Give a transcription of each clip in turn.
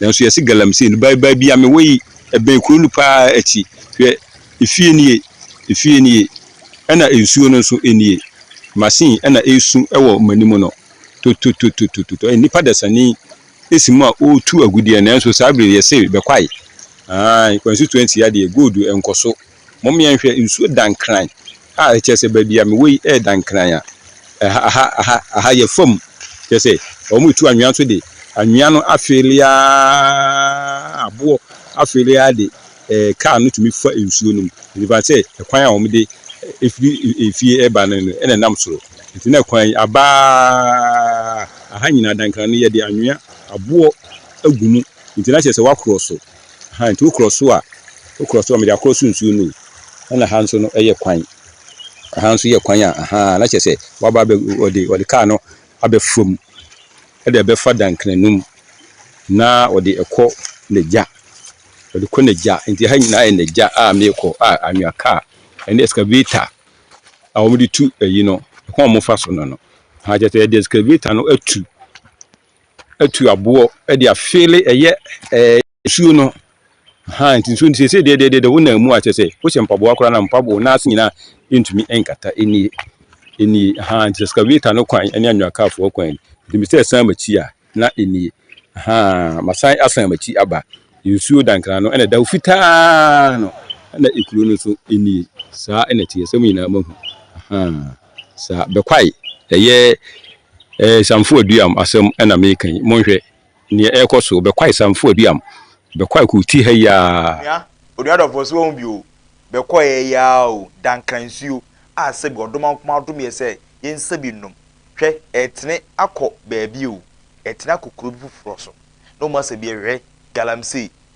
Nanso yɛse galamsey no bye bye bia mewɔ yi ɛbɛn kuro no paa akyi hwɛ efie nie efie nie ɛna nsuo no nso nie machine ɛna ɛresu ɛwɔ manim no tototototototɔ ɛyɛ nipa dasani ɛsi mu a ɔretu agudeɛ nanso saa bere yɛse bɛkwae aah kwansutuansi adeɛ gold ɛnkɔso Mmom yɛnhwɛ nsuo da nkran a ɛkyerɛ sɛ baabi a mewɔ yi ɛreda nkran a ɛha ɛha ɛha yɛ fam kyerɛ sɛ wɔretu anwea nso de anwea no afeele ara aboɔ afeele ara de eh, kaa no tumi fa nsuo no mu ɛfiri sɛ ɛkwan a wɔde ɛfiri efie ɛba no no ɛna ɛnam soro nti na ɛkwan yi abaa aha nyinaa dankran no yɛde anwea aboɔ agu mu nti na kyerɛ sɛ wɔakorɔ so Aha nti wokorɔ so a, wokorɔ so a, mede akorɔ so nsuo no o, ɛna ha nso no yɛ kwan. Aha nso yɛ kwan a, ahaa, na kyerɛ sɛ waba abɛ, ɔde, ɔde kaa no abɛfa mu, ɛde ɛbɛfa Dankranu mu, na ɔde ɛkɔ n'agya, ɔde kɔ n'agya. Nti ha nyinaa yɛ n'agya a meekɔ a anwea kaa, ɛne excavator a wɔde tu ayi no, ɛkwan a wɔfa so no no. Aha, kyerɛ sɛ yɛde excavator no atu. atu aboɔ de afeele ɛyɛ ɛɛ nsuo no haa nti nsuo no sese deɛ deɛ deɛ wo nan mu a kyɛ sɛ wohyɛ mpaboa koraa na mpaboa na ase nyinaa ntumi nkata nie nie haa nti excavator no kwan ne anwakaafoɔ kwan nti mesɛ ɛsan m'akyi a na nie haa masan asan m'akyi aba nsuo dankra no ɛna ɛda fitaa no ɛna ekuro no nso nie saa ɛna ɛteɛ sɛ mo nyinaa mahu haa. Sa Bekwai, Ɛyɛ Samfo Aduam asɛm na mereka yi. Monhwɛ nea ɛrekɔ so. Bekwai Samfo Aduam. Bekwai koo ti ha yi aa. Nua, onua dɔfoɔ, so wahu bi o? Bekwai yi aa o, dankra nsuo a sɛbi ɔdoma nkomaa dom yɛ sɛ yɛnsa bi nnom. Hwɛ, ɛretene akɔ baabi o, ɛretene akɔ kuro bi foforɔ so. Na wɔn asa bi yɛ hwɛ, galamsey,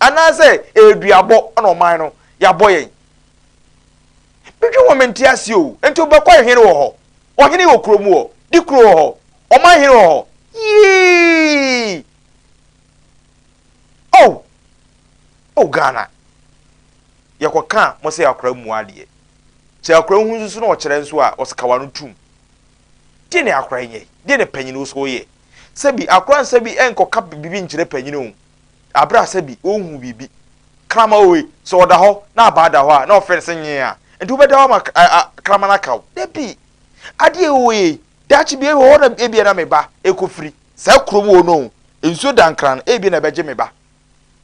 anaasɛ ɛyɛ duabɔ na ɔman no yɛabɔ yɛn. Medwen ho mente aseɛ o, enti wobɛkɔ a hene wɔ hɔ, ɔhene wɔ kuro mu hɔ, di kuro wɔ hɔ, ɔman hene wɔ hɔ, yii! Oh! Oh Ghana! Yɛkɔ ka mo sɛ akora mmua adeɛ. Sɛ akora hu nso na ɔkyerɛ nso a ɔseka wano tum. Deɛ ne akora nyɛ, deɛ ne panyini nso yɛ. Sɛbi akora nsa bi nkɔka bibi nkyerɛ panyini o. Bere a sɛbi ɔrehu biribi, kraman oe, sɛ ɔda hɔ na abaa da hɔ a, na ɔfrɛ no sɛ nyee a, enti wobɛda hɔ ama kraman aka wo? Dabi! Adeɛ a ɛwɔ yɛ yi, daakye biara wɔ hɔ na ebia na me ba rekɔfiri saa kurom hɔ no o, nsuo dankran no ebia na ɛbɛgye me ba.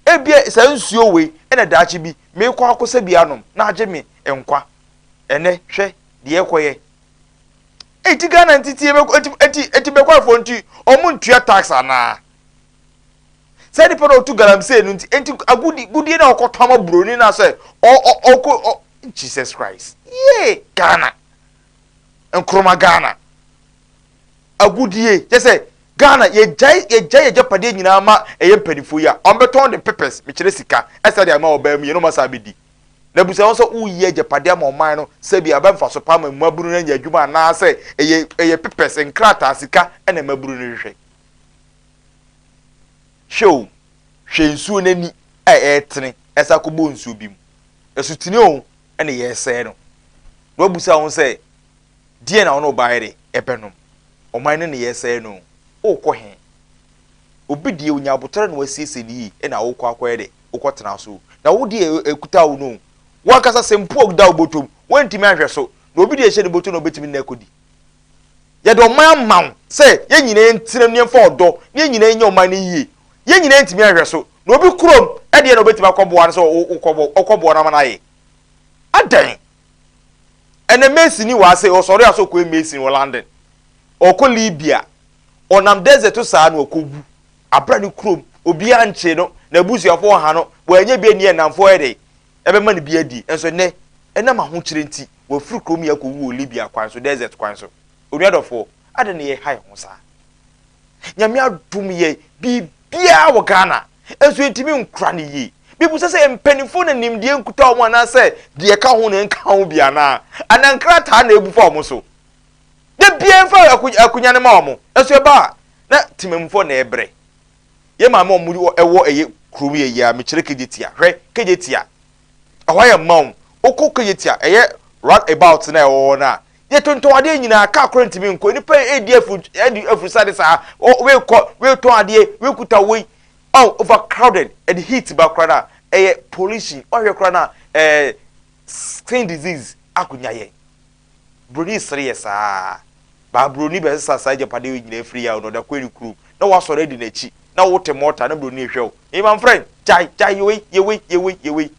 Ebia saa nsuo wei na daakye bi merekɔ akɔsa bi anom na agye me nkwa. Ɛnnɛ, hwɛ deɛ ɛrekɔyɛ. Enti Ghana nti tie bɛkɔ enti enti enti bɛkɔfoɔ nti wɔn ntua tax anaa? Sɛ nipa na ɔtu galamsey no nti, enti agudi gudie na ɔkɔ tɔn ma buroni na sɛ ɔ ɔ ɔkɔ ɔ Jesus Christ yee Ghana nkoroma Ghana agudie kyɛ sɛ Ghana yɛgyae yɛgyae yɛgyapadeɛ nyinaa ma ɛyɛ mpanimfoɔ yi a wɔn bɛtɔn de pepes mekyerɛ sika ɛsa de ama ɔbaa mu yɛn na wɔn asa abɛdi na busa wɔn sɛ woyi agyapadeɛ ama ɔman no sɛbi aba mfaso paa ma mmabunu no anya adwuma anaasɛ ɛyɛ ɛyɛ pepes nkrataa sika ɛna mmabunu no hwehwɛ Hwɛ o, hwɛ nsuo no ani a ɛretene ɛsan akɔbɔ nsuo bi mu. Asutene o, ɛna yɛresɛe no. Na wɔabisa wɔn sɛ, Deɛn na wɔn a wɔbaeɛ de rebɛnom? Ɔman no na yɛresɛe no o, worekɔ he? Obi deɛ ɔnya abotare na wasiesie no yie na worekɔ akɔyɛ dɛ? Wokɔtena so o. Na wo deɛ ɛkuta wo no o, wo ankasa sɛ mpo ɔda wo bɔtɔ mu, woantumi anhwɛ so, na obi deɛ ɛhyɛ ne bɔtɔ na ɔbɛtumi de no akɔdi. Yɛde ɔman ama wo sɛ yɛn nyinaa ntenam na yɛmfa ɔdɔ na yɛn nyinaa nyɛ ɔman no yie. Yɛn nyinaa ntumi nhwɛ so, na obi kurom deɛ na ɔbɛtumi akɔboa no sɛ ɔkɔboa no ama no ayɛ. Adɛn? Ɛnɛ Mason ni wɔ ha sɛ ɔsɔre a sɛ ɔkɔyɛ Mason wɔ London, ɔkɔ Libya, ɔnam desert so saa na ɔkɔwu. Abra ne kurom, obiara nkyee no, n'abusuafoɔ ɔha no, wɔanyɛ bi anni ɛnamfoɔ yɛ dɛn? Ɛbɛma no bi adi. Nso nnɛ, ɛnam ahokyere nti, wɔafiri kurom yi akɔwu wɔ Libya kwan so, desert kwan so. Onua dɔfoɔ, adɛn na yɛreha yɛn ho saa? Nyame adom yɛn, biribiara wɔ Ghana, nso yɛntumi nkora no yie. Mebisa sɛ, mpanimfoɔ na nimdeɛ nkuta wɔn anaasɛ deɛ ɛka ho na ɛnka ho bi anaa? Anaa nkrataa na abu fa wɔn so? Da biara mfa akonya no ma wɔn, nso ɛba a, na temammufoɔ na ɛrebrɛ. Yɛ maame ɔmo wɔ ɛwɔ ɛyɛ kurom yɛ yia me kyerɛ kejetia hwɛ kejetia ɛhɔ ayɛ mma o wokɔ kejetia ɛyɛ round about na ɛwɔ hɔ no a yɛ tontɔn adeɛ nyinaa car kora ntumi nkɔ nipa yɛ edi afuru edi afurusade saa o wei kɔ wei tɔn adeɛ wei kuta wei oh over crowded ɛde heat ba kora na ɛyɛ pollution ɔhwɛ kora na ɛɛ skin disease akonya yɛn Buroni sere yɛ saa ara. Baaburoni bɛsesa saa agyapadeɛ yi nyinaa firi yaw na ɔde akɔ ne kurom, na wasɔre adi n'akyi, na wote mɔɔta na buroni rehwɛ wo. Hey my friend, gyae, gyae, yɛ wei, yɛ wei, yɛ wei, yɛ wei.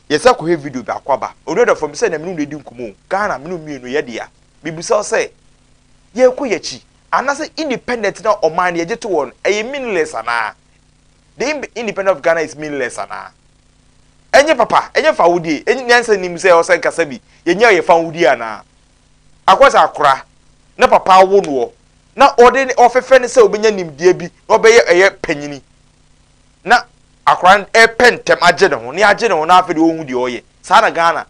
Yɛn san kɔhwɛ video biako aba. Onua dɔfoɔ, me sɛ na me ne wo redi nkɔmmɔ o, Ghana, me ne wo mmienu yɛ dea. Mebisa wo sɛ, yɛrekɔ yɛn akyi, anaasɛ independent no a ɔman no yɛgye to wɔn no, ɛyɛ meaningless anaa? the independent of Ghana is meanless anaa? Ɛnyɛ papa, ɛnyɛ fawodie, ɛnyɛ nyansa nnim sɛ ɔsɛ nkasa bi, yɛnyɛ yɛ fawodie anaa? Akɔ sɛ akora na papa awo noɔ na ɔde ne ɔfɛfɛ no sɛ ɔbɛnya nimdeɛ bi na ɔbɛyɛ ɛyɛ panyini na akora no ɛpɛ ntɛm agye ne ho ne agye ne ho na afei deɛ ɔnhu deɛ ɔyɛ. Saa na Ghana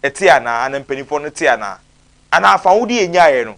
ɛte anaa? Ana mpanimfoɔ no te anaa? Anaa fawodie yɛnyaeɛ no?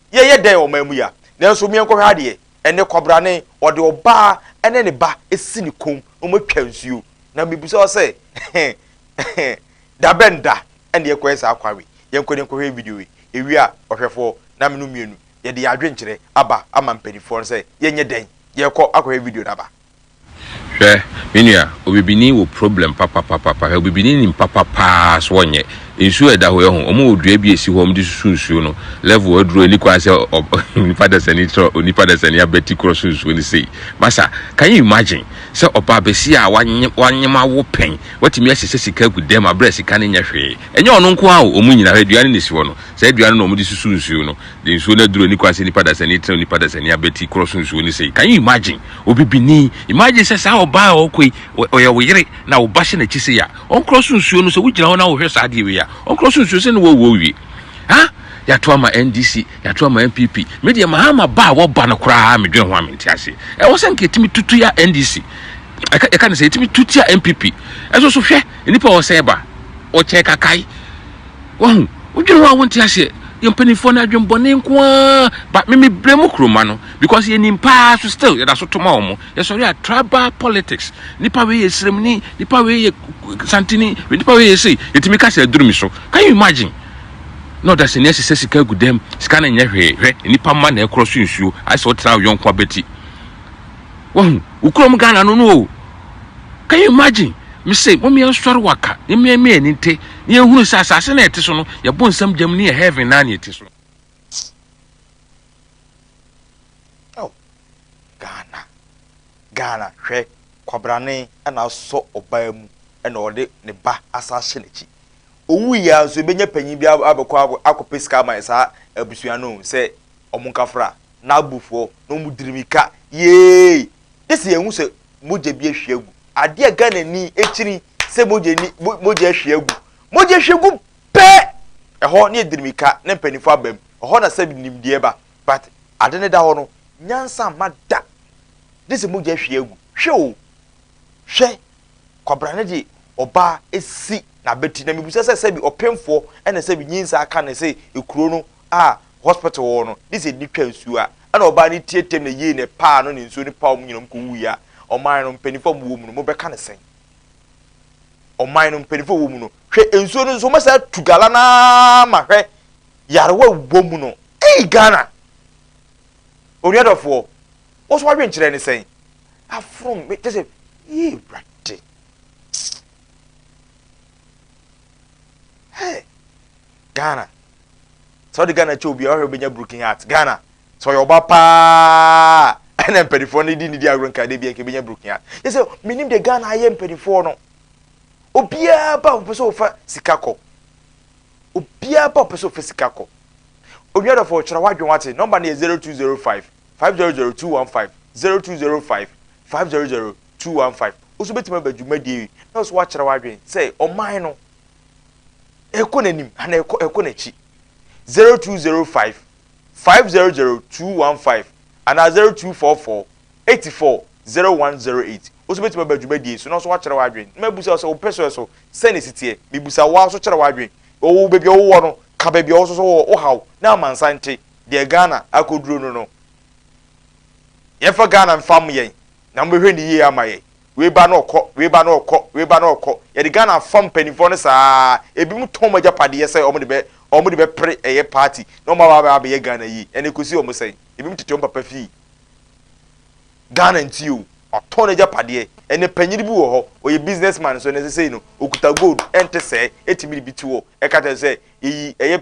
yɛyɛ dɛn ɔman mu yi a? Nanso meɛnkɔhwɛ adeɛ, ɛnnɛ kwabrane ɔde ɔbaa ɛne ne ba asi ne kɔn na ɔmo atwa nsuo na mebisa wo sɛ dabɛn da ɛna yɛkɔyɛ saa kwan wei? Yɛnkɔ na yɛnkɔhwɛ video wei, ɛwie a ɔhwɛfoɔ na menom mmienu yɛde yɛn adwenkyerɛ aba ama mpaninfoɔ no sɛ yɛnyɛ dɛn? Yɛkɔ akɔhwɛ video no aba. Hwɛ me nua obibini wɔ problem papapapapa hwɛ obibini nim papa paa so ɔnyɛ nsuo a ɛda hɔ yɛ ho ɔmo wɔ dua bi a esi hɔ ɔmo de susu nsuo no level aduro ɛni kwan sɛ onipa dasani tɔ onipa dasani abɛti korɔ so nsuo no sei masa can you imagine sɛ ɔbaa bɛsi a wanyem wanyem awo pɛn watumi ahyehyɛ sika agu dɛm abrɛ sika no nyɛ hwee ɛnyɛ ɔno nko a ɔmo nyina hwɛ dua no na esi hɔ no saa dua no na ɔmo de susu nsuo no de nsuo no aduru ani kwan sɛ nipa dasani tena onipa dasani abati korɔ so nsuo no sei can you imagine obibini imagine sɛ saa ɔbaa a ɔkɔ yi ɔyɛ wo yere na wo ba hyɛ n'akyi sei a ɔnkorɔ so nsuo no sɛ wogyina hɔ na wohwɛ saa adeɛ wei a ɔnkorɔ so nsuo sɛ ne wɔwɔ owie ha yɛato ama NDC yɛato ama NPP me deɛ mahama ba a wɔba no koraa medwen ho a mente aseɛ ɛwɔ sɛ nka ɛtumi tutu ya NDC ɛka ɛka ne sɛ ɛtumi tutu ya NPP ɛso so hwɛ nnipa a ɔsɛe ba ɔkyɛn kakae Wahu? Wodwene ho a wonte aseɛ. Yɛn mpanimfoɔ no adwene bɔne nko ara. But me me blame mo kuroma no because yɛnim paa so still yɛda so to ma wɔn. Yɛsɔre a tribal politics. Nipa wei yɛ sremuni, nipa wei yɛ santini, nipa wei yɛ sei. Yɛtumi ka sɛ aduru mi so. Can you imagine? Na ɔdasani asesa sika agu dam. Sika no nyɛ hwee. Hwɛ, nipa mma na ɛkorɔ so nsuo. Ayɛ sɛ wotena wo yɔnko abati. Wahu? Wo kurom Ghana no no o. Can you imagine? Me se, mom yɛn sɔre waka, ne mmea mmea ani nte, ne yɛn hunu sɛ asase na ɛte so no, yɛbɔ nsam gyam ne yɛ heaven na ne ɛte so. Oh, Ghana, Ghana, hwɛ, kwabrane na asɔ ɔbaa mu na ɔde ne ba asa ahyɛ n'akyi. Owui ya nso, ebenya panyin bi abɛkɔ akɔpɛ sika ama saa abusua no sɛ wɔn nkafra. N'abufuo na ɔmo diri mika yeeii gye sɛ yɛhu sɛ mogya bi ahwie agu adeɛ a Ghana ni akyiri sɛ mogya ni mogya ahwie agu mogya ahwie gu pɛɛ ɛhɔ ne yɛdiri mika na mpaninfoɔ aba mu ɛhɔ na sɛ nimdeɛ ba but ade no da hɔ no nyansa mma da gye sɛ mogya ahwie agu hwɛ o hwɛ Kwabena no de ɔbaa asi n'abati na mebisa sɛ sɛbi ɔpemfoɔ ɛna sɛbi nyinsaa ka ne se ekuro no a hospital wɔwɔ no ne se nni twa nsuo a ɛna ɔbaa no tie tem na yei na ɛpaa no ne nsuo no paa ɔmo nyina ɔmo kɔwuiɛ a ɔman no mpanifoɔ a ɔmo wɔ mu no mobɛka no sɛn ɔman no mpanifoɔ a ɔwɔ mu no hwɛ nsuo no nso ɔmɛsa atu gala no ara ma hwɛ yarewa wɔ mu no ei Ghana onuadɔfoɔ Wo so w'adwenkyerɛ ne sɛn? Afrom me kyɛ sɛ yee Awurade. Hey, Ghana. Sɛ ɔde Ghana kyɛ obi a ɔhwɛ obenya broken heart. Ghana. Sɛ ɔyɛ ɔba paa ɛna mpanimfoɔ no di ne di agorɔ nkaade bi a nka ebenya broken heart. Yɛ sɛ menim deɛ Ghana ayɛ mpanimfoɔ no. Obiara ba a ɔpɛ sɛ ɔfa sika kɔ. Obiara ba a ɔpɛ sɛ ɔfa sika kɔ. Onua dɔfo ɔkyerɛ w'adwene wate. Nɔmba no yɛ zero two zero five five zero zero two one five zero two zero five five zero zero two one five wo nso wobɛtumi aba dwumadie yi na wo nso woakyerɛ w'adwene sɛ ɔman no ɛkɔ n'anim anaa ɛkɔ ɛkɔ n'akyi zero two zero five five zero zero two one five anaa zero two four four eighty four zero one zero eight wo nso wobɛtumi aba dwumadie so na wo nso woakyerɛ w'adwene na mabusa wo sɛ wopɛ so ɛso sɛ ne siteɛ mebusa wo a nso kyerɛ w'adwene ɔwɔ baabi a wowɔ no ka baabi a wɔ so so wɔ wohaw na amansan te Deɛ Ghana akɔduro no no yɛmfa Ghana mfa mo yɛn na mobɛhwɛ no yie ama yɛn. Wei ba na ɔkɔ, wei ba na ɔkɔ, wei ba na ɔkɔ. Yɛde Ghana afam mpanimfoɔ no saa ara. Ebinom tɔn wɔn agyapadeɛ sɛ wɔde bɛ, wɔde bɛpere ɛyɛ party na wɔn aba abɛyɛ Ghana yie. Ɛnna ɛkɔsi wɔn sɛn? Ebinom tete wɔn papa fie. Ghana nti o, watɔn n'agyapadeɛ. Ɛnna panyin bi wɔ hɔ, ɔyɛ business man nso, ɛnna sesei no, ɔkuta gold, ɛnte sɛɛ, ɛtumi de bi to hɔ, ɛka kyerɛ sɛ yɛyi ɛyɛ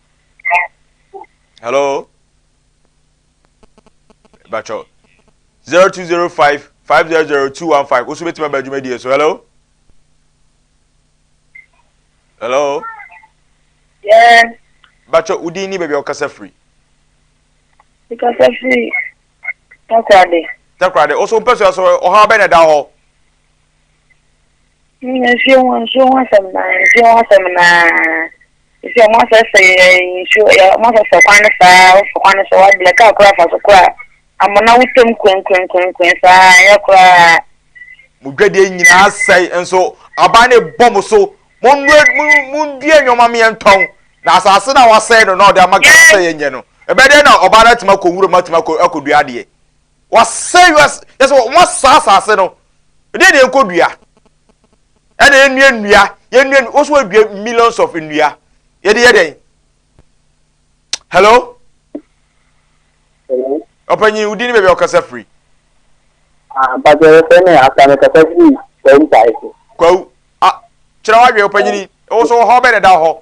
Hello. Bacho. 0205 500215. Osu betima ba adwuma die so. Hello. Hello. Yes. Bacho udin ni baby okasa free. Okasa free. Takrade. Takrade. Oso mpɛ so aso ɔhaw bɛ na da hɔ. Nsuo ho nsuo ho asɛm no ara nsuo ho asɛm no ara ɛsɛ sɛ wɔn asɛsɛ yɛ nsuo yɛ wɔn asɛsɛ kwan no saa woforo kwan no so wabrɛ kaa koraa fa so koraa amona wotwam kwenkenkwen saa ɛyɛ koraa. Mo dwadie nyinaa asɛe nso aban no rebɔ mo so monnue mundue nneɛma meɛ ntɔn na asase no a wasɛe no na ɔde ama Ghana sɛ yɛnyɛ no ɛbɛyɛ dɛn na ɔbaa no atumi akɔ nwura mu atumi akɔ akɔdua adeɛ. Wɔasɛe wiase, kyerɛ sɛ wɔasɛe asase no. Ɛdeɛn na yɛnkɔdua? Ɛna yɛnnua nnua, yɛnnua nnua, wo so wɔadua millions of nnua. Yɛde yɛ dɛn? Hello? Hello? Ɔpanyin, wo din ne baabi a wɔkasa firi? Ah, mpatɛ yɛfɛ ne asa ne kasa firi kwa ntae so. Kwawu. Ah, kyerɛ w'adwene, ɔpanyini. Wo so wɔ hɔ bɛn na ɛda hɔ?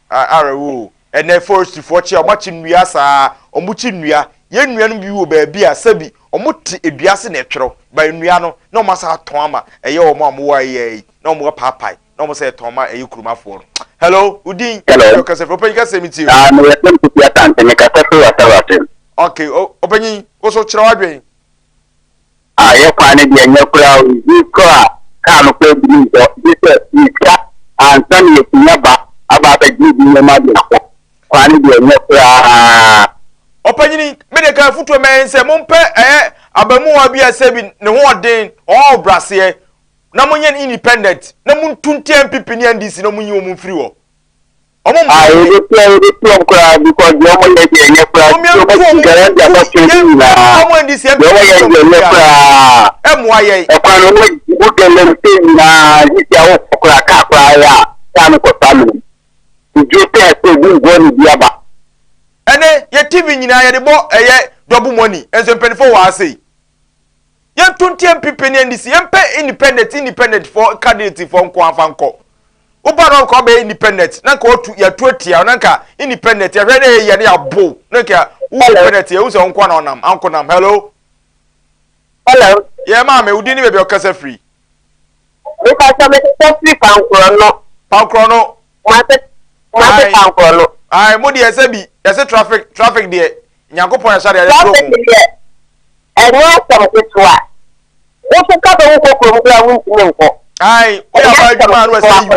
Arewo o, ɛnɛ forestry foɔ kye a wɔn akye nnua saa, wɔn kye nnua, yɛn nnua no bi wɔ baabi a sɛbi wɔn te dua ase na ɛtwerɛ, but nnua no na wɔn asan atɔn ama ɛyɛ wɔn a wɔn wɔ ayɛ yi na wɔn apaapae na wɔn sɛ ɛtɔn ma ɛyɛ kuromafoɔ no. Hello, wo din ɛna ɔkasa firi, ɔpanyin kasa mi tie o. Ah, meyɛ Sɛm Kofi Asante, mekasa firi Wasawasen. Okay, o, ɔpanyin, wo so kyerɛ w'adwen. Ah, yɛ kwan no deɛ nyɛ koraa o, easy koraa a kaa no koraa biri nsɔ, gye sɛ yɛtua ansa na yɛatumi aba aba abɛgye ebi nneɛma de akɔ, kwan no deɛ nyɛ koraa. Ɔpanyini, me deɛ ka afutuo mɛyɛ ne sɛ mompɛ ɛyɛ abamuwa bi a sɛbi ne ho ɔden, ɔwɔ ahobraseɛ na monyɛ no independent na montu ntia NPP ne NDC na monyi wɔn mfiri hɔ. Ɔmo mma yɛ den. Yɛbɛtua yɛbɛtua ɔmo koraa because deɛ ɔmo yɛ deɛ ɛnyɛ koraa nti ɔmo asi guarantee aba fie no nyinaa deɛ ɔmo yɛ deɛ ɛnyɛ koraa ɛkwan no ɔmo gu galamsey nyinaa sisi a wokɔ koraa kaa koraa yɛ a kaa no kɔ saa mene due sɛ ɛsɛ obi mboa ne bi aba. Ɛnɛ yɛ TV nyinaa yɛde bɔ ɛyɛ double money nso mpanyinfoɔ wɔ ha sei yɛnto nteɛ mpp ne NDC yɛmpɛ independent independent foɔ candidate foɔ nko afa nkɔ. Woba no anka ɔbɛyɛ independent na anka ɔtu yɛtu atia wo na anka independent yɛhwɛ na ɛyɛ ne abo na anka wo independent yɛ wosɛ nko na ɔnam anko nam hello hello yɛ maame wodi ne baabi ɔkasa firi nipa sɛ me kasa firi pankorɔ no pankorɔ no mo ase mo ase pankorɔ no ayi mo deɛ ɛsɛ bi ɛsɛ traffic traffic deɛ Nyankopɔn yɛ sɛdeɛ yɛkorɔ mu. Saa deɛ ɛnyɛ asɛm ketewa. Wo so ka sɛ wo kɔ kurom koraa wontumi nkɔ. Ae, wo yɛ aba adwuma a na wasɛ yi wo.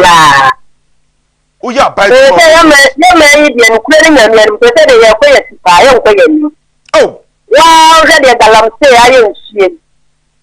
Wo yɛ aba adwuma. Sɛ yɛ mɛ yɛ mɛ yi deɛ nukura ne nyame anim sɛ sɛ deɛ yɛ kɔ yɛ si paa yɛ nkɔ yɛ anim. Oh. Waa ɔhwɛ deɛ galamsey ayɛ nsuo yi.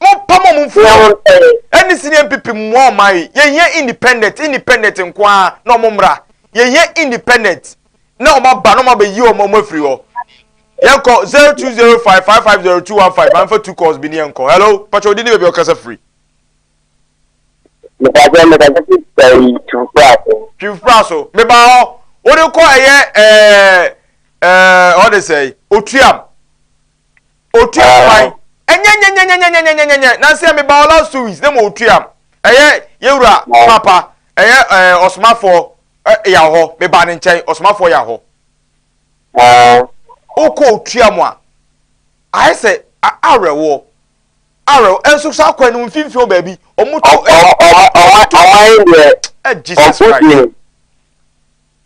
mompam ɔmo mfiri hɔ ɛne si ne npp mmoa ɔman yi yɛhia independent independent nko ara na ɔmo mmra yɛhia independent na ɔmo aba na ɔmo abɛyi ɔmo ɔmo afiri hɔ yɛnkɔ zero two zero five five five zero two one five anfa two calls bi ne yɛnkɔ hello pàtó odi ne baabi ɔkasa firi. mepàtó mepàtó ti sɛ yi twufura so. twufura so mebaa hɔ wɔde kɔ ɛyɛ ɛɛ ɛɛ ɔde sɛ otuam. Otua kwan. Ɛnyɛ nyɛnyɛnyɛnyɛnyɛnyɛnyɛnyɛ. Nansi a mebaa hɔ last two weeks na ma otua m. Ɛyɛ yɛn wura paapa, ɛyɛ ɛɛ ɔsomafoɔ ɛ yaw hɔ. Mebaa ne nkyɛn, ɔsomafoɔ yaw hɔ. Okɔ otua mu a, ayɛ sɛ a awerɛhoɔ, awerɛhoɔ. Ɛnso saa kwan no mfimfini wɔ baabi, wɔn to ɛ. Ɔmo to ɛ Jesus Christ.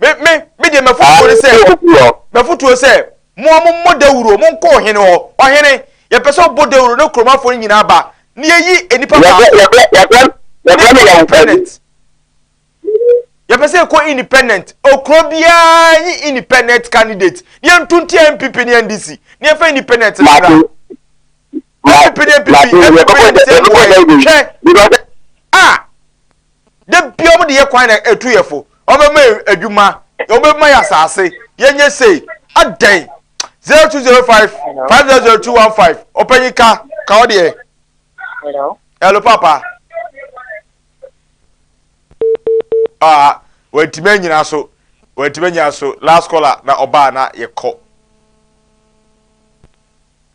me me me deɛ mafotuo ne sɛ mafotuo sɛ mo a mommɔ dawuro mo nkɔ ɔhene hɔ ɔhene yɛpɛ sɛ ɔbɔ dawuro ne kuromafoɔ no nyinaa ba ne yɛyi nnipa baako yɛpɛ sɛ ɛkɔ independent okuro biara nye independent candidate ne yɛnto nti npp ne ndc ne yɛfa independent no kra npp ne npp npp ne ndc mmoa yɛ hwɛ a Da bia ɔmo de yɛ kwan na etu yɛ fo ɔmo bɛma yɛ adwuma ɔmo bɛma yɛ asaase yɛ nyɛ sei adɛn zero two zero five five zero zero two one five ɔpanyin ka ka ɔdeɛ hello hello papa ah wɔntumi anyina so wɔntumi anyina so last caller na ɔbaa na yɛ kɔ.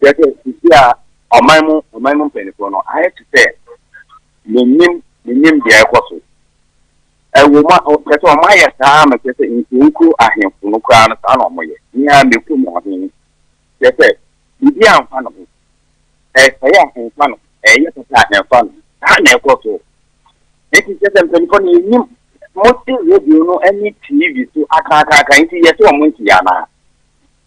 Kyerɛ sɛ sisi a ɔman mu ɔman mu mpanimfoɔ no ayɛ te sɛ menim menim deɛ ɛkɔ so. Ɛwɔ mu a kyerɛ sɛ wɔn ayɛ saa ama kyerɛ sɛ nkuronkuro ahemfo no koraa no saa na wɔyɛ. Nea mɛku mu ɔhene kyerɛ sɛ biribi a mfa ne ho. Ɛsɛe a mfa ne ho. Ɛyɛ papa a mfa ne ho. Saa na ɛkɔ so. Eti kyerɛ sɛ mpanimfoɔ no yɛnim mote radio no ne TV so akaakaaka nti yɛte wɔn nti anaa?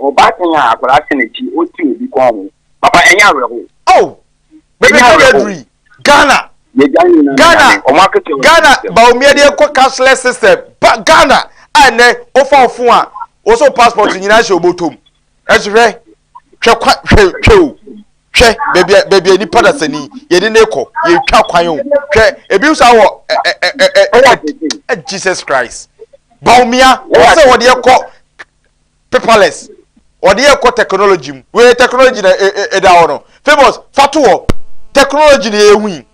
Ɔbaatan a akwadaa hyɛ n'akyi ɔte obi kɔn ho. Papa ɛnyɛ awerɛhow. Oh bɛbɛ ka bɛduri Ghana. Ghana Ghana Bawumia deɛ kɔ cashless system ba Ghana a ɛnɛ wofa wo fon a wɔsɛ passport nyinaa hyɛ obotom ɛso hwɛ hwɛ kwa hwɛ hwɛ o hwɛ baabi a baabi a nipa da sani yɛde ne kɔ yɛtwa kwan o hwɛ ebi nso awɔ ɛ ɛ ɛ ɛ Jesus Christ Bawumia wɔsɛ wɔde kɔ paperless wɔde yɛ kɔ technology mu wei yɛ technology na ɛda hɔ no famous fa to hɔ technology na yɛhu yi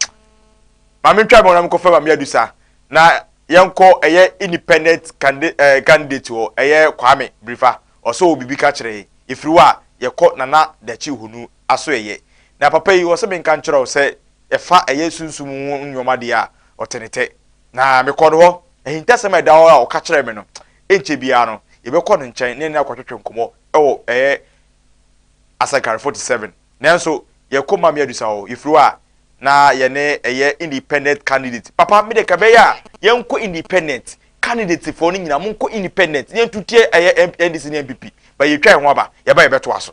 maame ntwa mɛ na mekɔ fɛ maame adusa na yɛnkɔ ɛyɛ independent eh, candidate wɔ ɛyɛ kwame birifa ɔsɛ wɔ biribi ka kyerɛ ɛfiri hɔ a yɛkɔ nana dakyi honu aso ɛyɛ na papa yi ɔsɛ menka nkyerɛ wo sɛ ɛfa ɛyɛ sunsum ho nneɛma deɛ a ɔtenetɛ na mekɔ no hɔ ahintasɛm a ɛda hɔ a ɔka kyerɛ me no Ɛnkyɛ biara no, yɛbɛkɔ no nkyɛn ne no akɔtwetwe nkɔmmɔ wɔ bɛyɛ Asankare 47. Nanso, yɛn komam yɛ adusɔ o, yɛfiri hɔ a, na yɛne ɛyɛ independent candidate. Papa, me deɛ ka ɛbɛyɛ a, yɛnkɔ independent, candidate foɔ no nyinaa, monkɔ independent, na yɛntutie ɛyɛ NDC ne NPP, but yɛtwa yɛn ho aba, yɛba yɛbɛtoa so.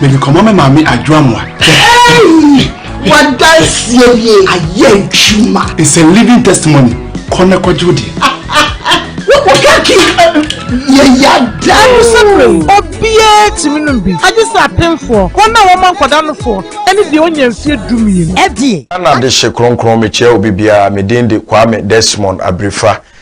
mede kɔma me maame adwoamoa wadanseɛ nie ayɛ adwuma it's a living testimony kɔ na kɔgye wo deɛ wokaki yɛyɛ adan sɛberɛ obiaa tumi nom bi agye sɛ apemfoɔ wɔn a wɔma nkɔda nofoɔ ɛne deɛ ɔnya mfeɛ dumienu ɛdeɛ ana de hye kronkron mekyia obi biara medin de kwame desmond abirifa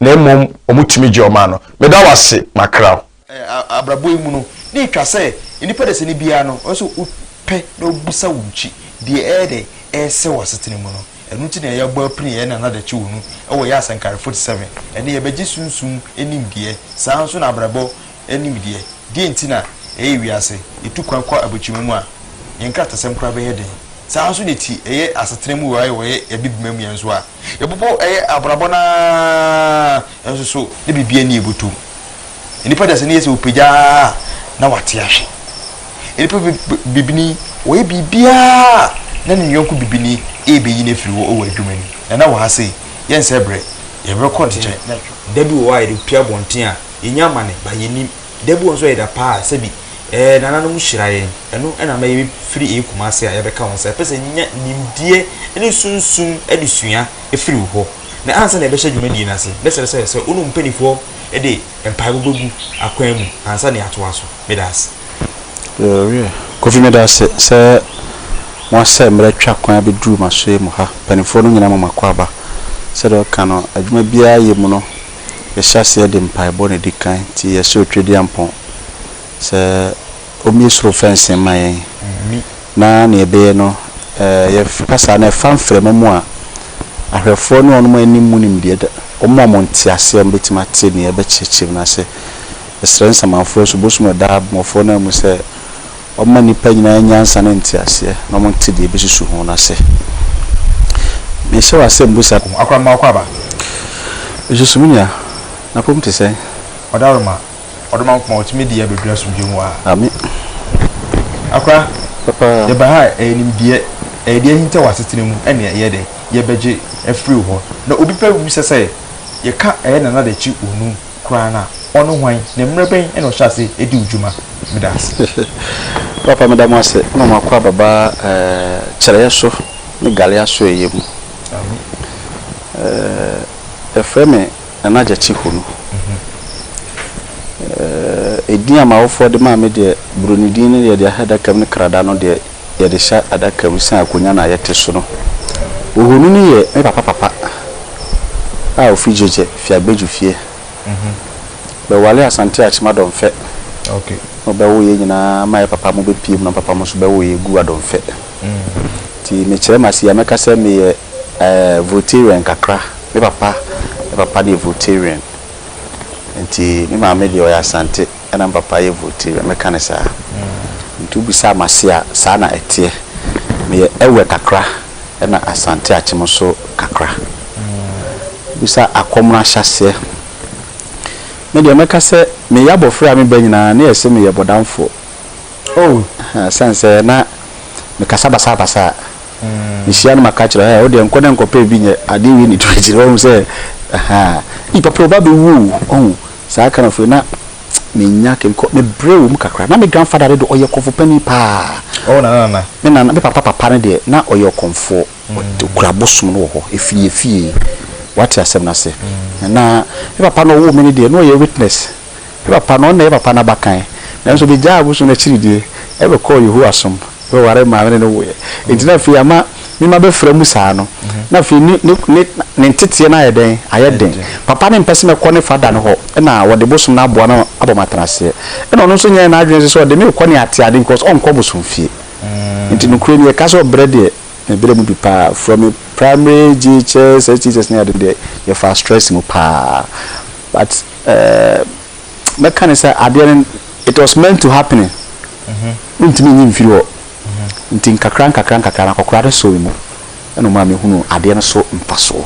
na mmom wɔtumi gye wɔn a no. Meda wo ase, makra wo. Abrabɔ yi mu no, na etwa sɛ nnipa dasani biara no, ɔsɛ sɛ ɔpɛ na ɔbisa wo nkyi deɛ ɛyɛ dɛ ɛresɛ wɔ asetena mu no. Ɛno nti na yɛabɔ apini yɛn Nana Dakyewonu wɔ yɛn asɛnka Refot 7, ɛne Yɛbɛgye Sunsum Nimdeɛ. Saa ara nso na abrabɔ anim deɛ, deɛn nti na ɛyɛ wiase yɛtu kwan kɔ abokyerema mu a, yɛn nkratasɛm koraa bɛyɛ den? Saa ara nso na ɛti ɛyɛ asetena mu wɔ ayɛ wɔyɛ Abibirima mu yɛn nso a, yɛbobɔ ɛyɛ abrabɔ no ara nso so na biribiara nni yɛn bɔtɔm. Nnipa dasani yɛ sɛ wɔpagya ara a na wɔate ahwe. Nnipa bi bɛ, bibini, wɔyɛ biribiara a na ne yɔnko bibini rebɛyi no afiri hɔ wɔ adwuma no mu. Na na wɔ ha sei, yɛnsɛe berɛ, yɛbɛkɔ nkyɛn. Da bi wɔ hɔ a yɛde pue abɔnten a, yɛnya amane but yɛnnim. Da bi wɔ hɔ nso a ɛyɛ da pa a sɛbi eh, nananom hyira yɛn. Ɛno na ama yɛbɛfiri eh Kumasi a yɛabɛka wo nsa. Yɛpɛ sɛ yɛnya nimdeɛ ne sunsum adesua firi wo hɔ. Na ansa na yɛbɛhyɛ dwumadie no ase, mɛsrɛ sɛ sɛ wo ne wo mpaninfoɔ de mpaebɔ bɛgu akwan mu ansa na yɛatoa so. Meda ase. Yɛrewie. Kofi meda ase sɛ moasɛ mmerɛ twa kwan abɛduru m'asoɛe mu ha. Mpaninfoɔ no nyinaa ma m'akɔ aba. Sɛdeɛ woka no, adwuma biara yɛ mu no, yɛhyɛ aseɛ de mpaebɔ na ɛdi kan nti yɛsrɛ Otwedeampɔn sɛ ɔmmie soro fɛnsee mma yɛn na nea ɛbɛyɛ no yɛka saa no ɛfa mframa mu a ahwɛfoɔ ne wɔn a ɛnim mu nimdeɛ da wɔn a wɔn nteaseɛ wɔn bɛtumi ate nea ɛbɛkyerɛkyerɛ mu no ase yɛsrɛ nsamanfoɔ nso bosom a ɛda abɔfoɔ no amu sɛ Ɔma nnipa nyinaa nyansa ne nteaseɛ, na wɔte deɛ ɛbɛsusu ho no ase. Mehyɛ wo asɛmbusa. O akorɔmma ɔkwaaba. Mesusu me nua, n'apɔm te sɛn? Ɔdaroma, ɔdɔ Nyankopɔn a ɔtumi de yɛn abɛduru asomdwoeɛ mu aa. Amen. Akora, Papa. yɛba ha a, ɛyɛ nimdeɛ, ɛyɛ deɛ ahinta wɔ asetena mu ɛne ɛyɛ dɛ, yɛbɛgye afiri wo hɔ. Na obi pɛ wu sɛ sɛ yɛka ɛyɛ nana de kye onum. koraa no a, ɔno hwan, na mmerɛ bɛn na ɔhyɛ aseɛ di wo dwuma? Meda ase. Papa meda mo ase ma mo akwaaba ba kyerɛeɛ so ne gale asoɛeɛ mu. Yɛfrɛ me Nana Gyakye Honu. Edin a m'awofoɔ de maa me deɛ, Buroni din no yɛde ahyɛ adaka mu ne Krada no deɛ, yɛde hyɛ adaka mu sɛ akonnwa no a yɛte so no. Ohoni no yɛ me papa papa a ofi Gyegye, Fiagbedwu fie. Bɛwaree Asante Akyem Adɔmfɛ na ɔbɛwoo yɛn nyinaa maa yɛn papa mo bɛpuem na me papa mo nso bɛwoo yɛn guu Adɔmfɛ. Nti mekyerɛ m'ase yi a, mɛka sɛ meyɛ Voltairean kakra. Me papa ne papa no yɛ Voltairean. Nti me maame deɛ ɔyɛ Asante. ɛna me papa yɛ voteria meka no saa nti wobisaa me ase a saa na ɛteɛ meyɛ ɛwɛ kakra ɛna asante akyem nso kakra wobisa akɔmoro ahyɛaseɛ me deɛ mɛka sɛ meyɛ abɔfra a me ba nyinaa na yɛse meyɛ bɔdamfo oh sane sɛ na mekasa basabasa a mehyia no maka kyerɛ ɛ wodeɛ nkɔ na nkɔpɛ bi nyɛ adeɛ wei ne tu akyire wahu sɛ ahaa ii papa wo ba bɛwu o ɔhu Saa kind of wei na menya ke bikɔ me brɛ wɔ mu kakra. Na me grandfather no deɛ ɔyɛ kɔmfo panin paa. Ɔwɔ nana nana. Me nana me papa papa no deɛ na ɔyɛ ɔkɔmfoɔ. Ɔt ɔkura abosom no wɔ hɔ efie efie. Wate asɛm no ase. Ɛhɛn na me papa no ɔwoo me no deɛ na ɔyɛ witness. Me papa no ɔno na ɛyɛ papa no abakan. Nanso megyaa abosom no akyiri deɛ ɛbɛkɔɔ Yehowa som. Bɛwaree maa me ne no woeɛ. Enti na afei ama me mma bɛfra mu saa no, na afei ne ne ne ne nteteɛ no ayɛ dɛn? Ayɛ den. Papa no mpɛ sɛ mɛkɔ ne fada no hɔ, ɛna wɔde bosom no aboa me abɔ me atenaseɛ. Ɛna ɔno nso nyɛɛ n'adwene nso sɛ ɔde me rekɔ ne ateade because ɔnkɔ bosomfie. Enti nokorɛ nie, ka sɛ ɔbrɛ deɛ, mebrɛ mu bi paa. From me primary, JHS, SHS ne ade no deɛ, yɛfaa stress mu paa. But, eh. mɛka ne sɛ adeɛ no it was meant to happening wontumi nyi mfiri hɔ nti nkakra nkakra nkakra no akɔkora no sɔɔ me mu ɛna ɔmaa mehunu adeɛ no so mfasoɔ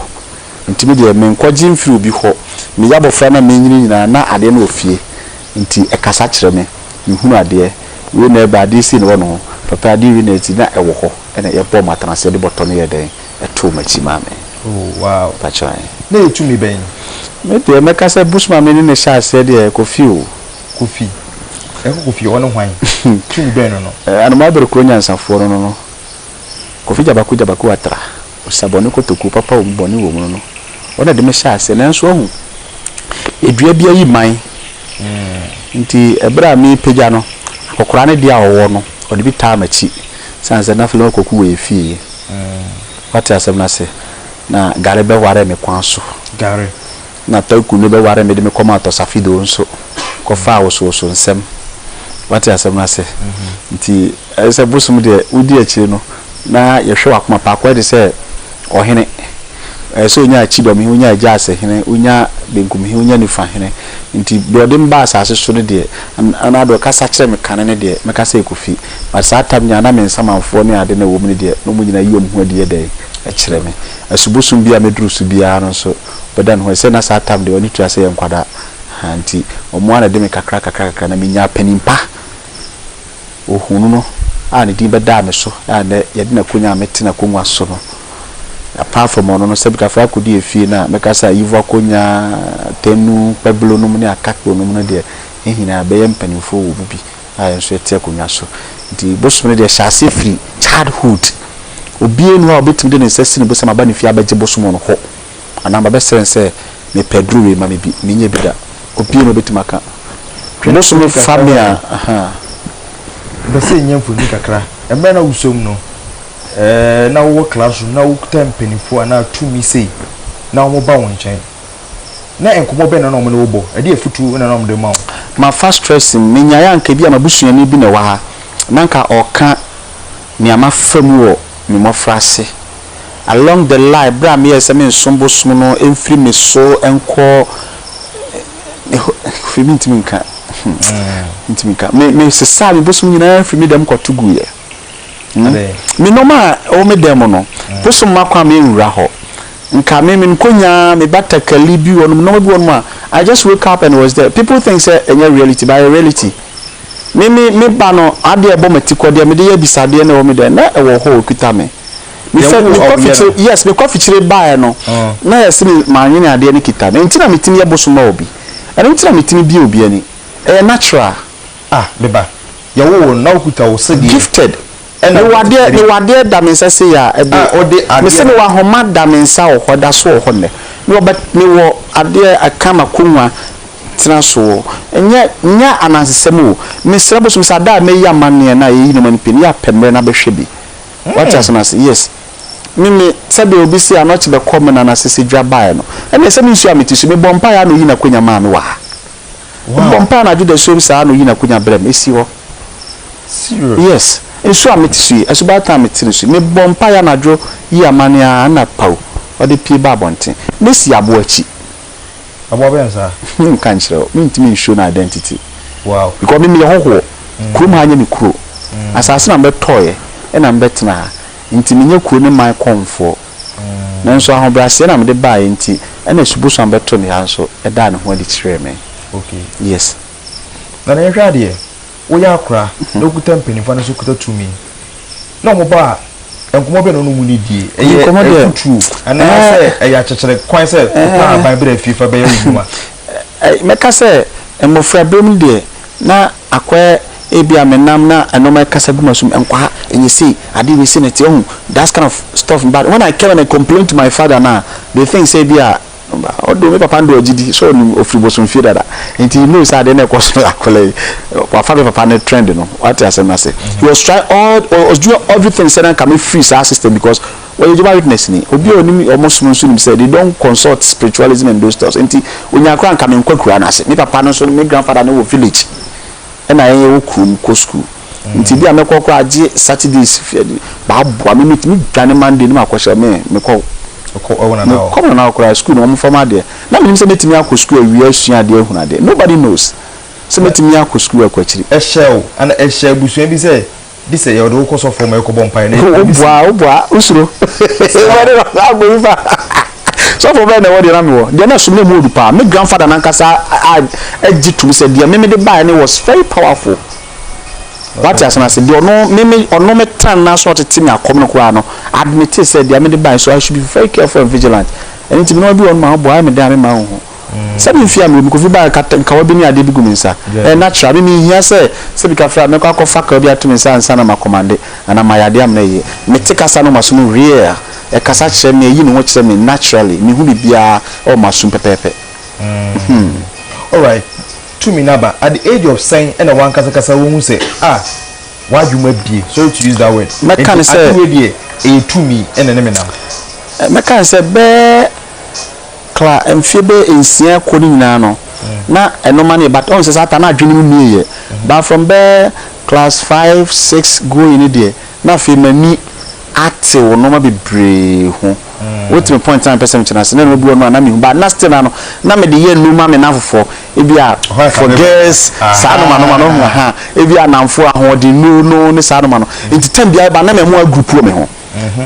nti me deɛ menkɔgye mfiri obi hɔ meyɛ abɔfra na menyini nyinaa na adeɛ no wɔ fie nti ɛkasa kyerɛ me mehunu adeɛ wei na ɛba adeɛ sei na ɛwɔ ne ho papa adeɛ wei na ɛti na ɛwɔ hɔ ɛna yɛbɔɔ mu atena aseɛ de bɔtɔ no yɛɛ dɛn ɛtoo m'akyi maa me. Oh wow! Fa kyerɛ yɛn. Na ɛyɛ tumi bɛn? Me deɛ mɛka sɛ Bushman-me ne no hyɛɛ aseɛ deɛ, Kofi o. Kofi. Ɛkɔ Kofi, ɔne hwan? Tumi bɛn no no? Anomaabere kuro nyansafoɔ no no no. Kofi Gyabaku Gyabaku Atra, Osabɔne Kotokuo papa wɔ mu bɔne wɔ mu no no. Ɔno na ɛde me hyɛɛ aseɛ. Nanso wahu, dua bi ayi mman. Nti ɛberɛ a merepagya no, akɔkoraa no deɛ a ɔwɔ no, ɔde bi taa m'akyi. Ɛsiane sɛ na afei na wakɔku wɔ yɛn fie. Wate asɛm no ase? Na Gare bɛwaree me kwan so. Gare. Na Taku no bɛwaree me de me kɔmaa Tɔsafidoo nso kɔfaa wosowoso nsɛm. Wate asɛm no ase? Nti, ɛne sɛ, Bosom deɛ, wodi akyire no, na yɛhwɛ w'akoma. Paakwae te sɛ ɔhene. Ɛyɛ sɛ ɔnya kyidɔm he, ɔnya agyaase hene, ɔnya benkum he, ɔnya nifa hene. Nti deɛ ɔde me baa asaase so no deɛ, anaa deɛ ɔkasa kyerɛɛ me kane no deɛ, mɛka sɛ ɛkɔfi. But saa tam nyinaa na me nsamanfoɔ ne ade no a ɛwɔ mu no deɛ, na wɔn nyinaa yi wɔn ho adi yɛ dɛn? kyerɛ me. Asubosum biaa a mɛduru so biaa no nso, ɔbɛda ne ho adi sɛ na saa tam deɛ ɔne tua sɛ yɛ nkwadaa. Nti wɔn ara na ɛde me kakra kakra kakra na menyaa panin pa. ohunuu no a ne din bɛdaa me so a nnɛ yɛde no akonnwa a mete n'akonnwa so no. Yɛapaa fam ɔno no sɛ Butterfly akodi afie no a, mɛka sɛ Ayiefo Akonnwa, Tanu, Kpabilo nom ne Akakpo nom no deɛ, yɛn nyinaa bɛyɛ mpanimfoɔ wɔ mu bi a yɛn nso yɛte akonnwa so. Nti bosom no deɛ hyɛ aseɛ firi childhood. Obiara nni hɔ a obetumi de ne nsa asi ne bo sɛ maba ne fie abɛgye bosom no hɔ. anaa mabɛsrɛ no sɛ, Mepɛ aduru wei, ma me bi. Mennya bi da. Obiara na obetumi aka. Bosome fa me a, ahaa. Mepɛ sɛ yɛnya mfoni kakra. Mmerɛ na wosɔ mu no, eh, na wowɔ classroom, na wokuta mpaninfoɔ anaa tumi sei, na wɔn ba wo nkyɛn. Na nkɔmmɔ bɛn na na wɔn ne wo bɔ? Ɛdeɛ afutuo na na wɔn de ma wo? Mafa stress mu. Menyaeɛ a anka ebia m'abusuani bi na ɛwɔ ha, na anka ɔreka nea mafa mu wɔ me mmɔfra ase. along the line berɛ a meyɛɛ sɛ menso bosom no mfiri me so nkɔ firi me ntumi nka hmm. ntumi nka me me sesaa me bosom nyinaa firi me dɛm kɔto gu yɛ hmm. me nneɛma a ɛwɔ me dɛm no hmm. bosom ma kwan me nwura hɔ nka me me nkonya me batakali bi wɔnom nneɛma bi wɔnom a I just wake up and was there people think sɛ ɛnyɛ reality but ɛyɛ reality. Me me me ba no adeɛ ɛbɔ matikɔ deɛ mede yɛ abisadeɛ na ɛwɔ me dɛn na ɛwɔ hɔ ɔkuta me mefɛ Yɛwo mekɔ ɔbea fikyire no. yes mekɔ fikyire baeɛ no na yɛse me manwene adeɛ no kita me ɛnti na metumi yɛ bosom ma obi ɛno nti na metumi bie obi ani ɛyɛ natural Ah me ba. Yɛwo wo no na wokuta wo sedeɛ. gifted. ɛna Mewɔ adeɛ, ɔtete mewɔ adeɛ da me nsa sei a, ɛde, a ɔde adeɛ mese no mewɔ ahoma da me nsa wɔ hɔ, ɛda so wɔ hɔ nnɛ. Mewɔ bɛ, mewɔ adeɛ ɛka m'akonnwa tena so o, nyɛ, nyɛ anansesɛm o, mesrɛ bosom sɛ ada a mɛyi amanneɛ no a yɛyi nneɛma no pii no, yɛapɛ mmerɛ na bɛhwɛ bi. Wate asɛm no ase? Yes. Me, me, sɛdeɛ obi se anɔkye bɛkɔ me nana sese dwa baeɛ no, ɛnneɛ sɛ mensuaa me ti so, mebɔɔ mpaeɛ ara na ɔyii n'akonnwa maa me wɔ ha. Mebɔ mpae anadwo dasuom saa na oyi n'akonya brɛ me. Esi hɔ. Yes. Nsu a mete so yi, asubaaten a mete no so yi, mebɔ mpae anadwo yi amanne ara na paw, ɔde pue ba abɔnten. Mesi aboa akyi. Aboa bɛn saa? Menka nkyerɛ wo. Mintumi n-show no identity. Wow. Because me meyɛ hɔhoɔ. Kurom ha nyɛ me kuro. Asase na mebɛtɔeɛ na mebɛtena ha. Enti menyɛ kuro ne man kɔmfoɔ. Nanso ahobrɛaseɛ na mede baeɛ nti, ɛna Subosuan bɛtoo me ha nso daa ne ho adi kyerɛɛ me. Okay. Yes. Na na yɛnhwɛ adeɛ, woyɛ akora na wokuta mpanimfoɔ anaasɛ wokuta tumi na wɔn ba a, nkɔmmɔ bɛn na wo ne wɔn ni die? Ɛyɛ afutuo anaasɛ ɛyɛ akyɛkyerɛ kwan sɛ kɔtɔ ahaban bra fie fa bɛyɛ wo nnwuma? Mɛka sɛ mmɔfra berɛ mu deɛ, Na akɔɛ ebia me nam na nnoɔma ɛkasa gu m'asom nkwaha ɛnyɛ sei adeɛ wei sei na ɛteɛ wohu that's kind of stuff but when I came and I complained to my father no a they think sɛ ebia although me papa no deɛ ɔgye di sɛ ɔnim ɔfiri bosomfie dada nti he knows sɛ adeɛ no ɛkɔ so na akwadaa yi wafa me papa no trend no wate asɛm no ase he was trying all was doing everything sɛ na nka mefiri saa system because Ɔyɛ Jehovah Witnessni. Obi a onim wɔn som nso nim sɛ they don't consult spiritualism and those stuffs. Enti onyaa koraa anka menkɔ akuraa no ase. Me papa no nso, me grandfather no wɔ village ɛna yɛn yɛwɔ kurom kɔ sukuu. Nti ebia mɛkɔ koraa agye Saturdays bɛaboa me. Metumi dwane Monday na makɔ hyɛ me mekɔ Wokɔ wo nana hɔ? mekɔ me nana hɔ koraa sukuu no wɔmfa me adeɛ. Na menim sɛ mɛtumi akɔ sukuu awia asua adeɛ ahunu adeɛ. Nobody knows sɛ mɛtumi akɔ sukuu akɔ akyiri. Ɛhyɛɛ wo anaa ɛhyɛɛ abusua bi sɛ Bi sɛ yɛde wo kɔ sɔfo hɔ ma yɛkɔbɔ mpaeɛ na yɛtumi bisa. Wobua wobua wosuro. Wobɛde wɔ saa abɔ yi fa. Sɔfo bɛn na ɛwɔ deɛ na mewɔ? Deɛ na ɛsom na ɛmu ɔdu paa. Me grandfather no ankasa agye tom sɛ deɛ me mede baeɛ no was very powerful. Wate ase no ase. Deɛ ɔno me me ɔno me tan no aso ɔtete me akɔm no koraa no admite sɛ deɛ mede baeɛ so I should be very careful and vigilant. Ɛno nti me na mabi wɔ no ma wobua ayɛ me dɛn a memma wo ho. Sɛbi mfi a mmerɛ mu Kofi baeɛ ka kawa bi ne adeɛ bi gu me nsa. Ɛyɛ natural. Me menhia sɛ sɛbi ka frɛ a mɛkɔ akɔ fa kawa bi ato me nsa ansa na ma kɔmande anaa mayɛ adeɛ a mena yie. Me te kasa no wɔ m'aso mu hwiea. Ɛkasa kyerɛ me, ɛyi ne ho kyerɛ me naturally. Mehu biribiara wɔ m'asom pɛpɛɛpɛ. Hmm. Alright, tumi no aba at the age of sɛn na w'ankasa kasa wohu sɛ ah w'adwene mu abue, sorry to use that word, Mɛka no nti sɛ. ade wei deɛ ɛyɛ tumi na ɛne me nam? Mɛka no sɛ bɛɛ Kla mfeɛ bɛyɛ nsia rekɔ no nyinaa no na ɛno ma no yɛ but ɔhu sɛ saa ta no adwene mu mmie yɛ but from bɛyɛ class five six going no deɛ na afei m'ani atew nnoɔma bebree ho wote me point a mepɛ sɛ mekyerɛ ase na nnoɔma bi wɔ no a na mehu but na still na no na mede yɛ nnoɔma me namfofoɔ ebi a for girls saa nnoɔma nnoɔma no ho ahaa ebi a namfoɔ ahoɔdennuro no ne saa nnoɔma no nti time biara ɛba na mɛmoa group wɔ me ho.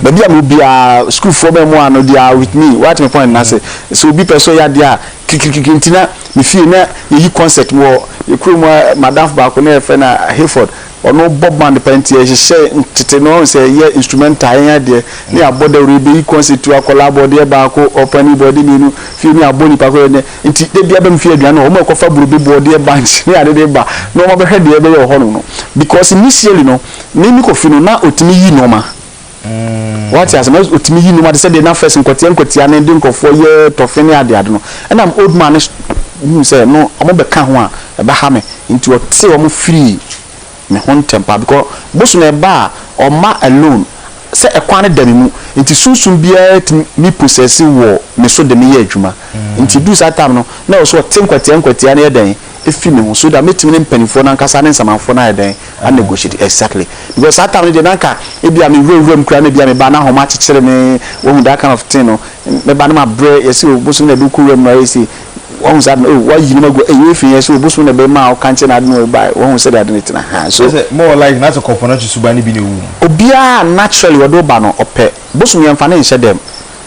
Baabi a mewɔ biara, sukuufoɔ bɛn mu a no they are with me, woate me point no ase. Sɛ obi pɛ sɛ ɔyɛ adeɛ a, kirikirikiri nti na me fie na yɛyi concert wɔ yɛn kurom ha, m'adamfo baako na yɛfrɛ no Hayford, ɔno bɔ band paa nti yɛhyehyɛ tete no wahu sɛ yɛyɛ instrumental yɛnyɛ adeɛ na yɛabɔ dawuro yɛbɛyi concert tu akwadaa bɔ deɛ baako, ɔpanin bɔ deɛ mmienu, fie no yɛabɔ nnipa kɔ yɛnyɛ nti da biara bɛ me fie aduane no hɔ, wɔn ɛkɔfa burobe bɔ deɛ bunch ne ade de ba na wɔabɛhwɛ deɛ yɛbɛyɛ wɔ hɔnom no because initially no. Me me kɔ fie no na ɔtumi yi nnoɔma wate ase na ɔtumi yi nnoɔma te sɛ deɛ na first nkwatia nkwatia ne de nkurɔfoɔ yɛ tɔfe ne ade ade no ɛna me old man no hu sɛ no wɔn bɛka ho a ɛbɛha me nti ɔte wɔn firii me ho ntɛm paa because boso na ɛba a ɔma alone sɛ ɛkwan no da me mu nti sunsum biara tumi me possessi wɔ me so de me yɛ adwuma nti du saa time no na ɔso ɔte nkwatia nkwatia ne yɛ dɛn efi me ho so that mɛtumi ne mpaninfoɔ no ankasa ne nsamanfoɔ no ayɛ dɛn a negotiate exactly because saa time no deɛ na anka ebia me wura wura mu koraa na ebia me ba na ahoma akyekyere me wahu that kind of thing no me ba no ma brɛ yɛsi o bosom na ɛde wokɔ wura mu no ayɛ si wahu saa no o wayi no ma gu eyi efi yɛsi o bosom na ɛbɛn ma ɔka nkyɛn na ade na ɔyɛ ba wahu sɛ de ade ne tena ha so sɛ more like na sɛ kɔpɔ na susu ba ne bi na ewu mu obiara naturally wɔde ɔba no ɔpɛ bosom yɛn fa ne nhyɛ dɛm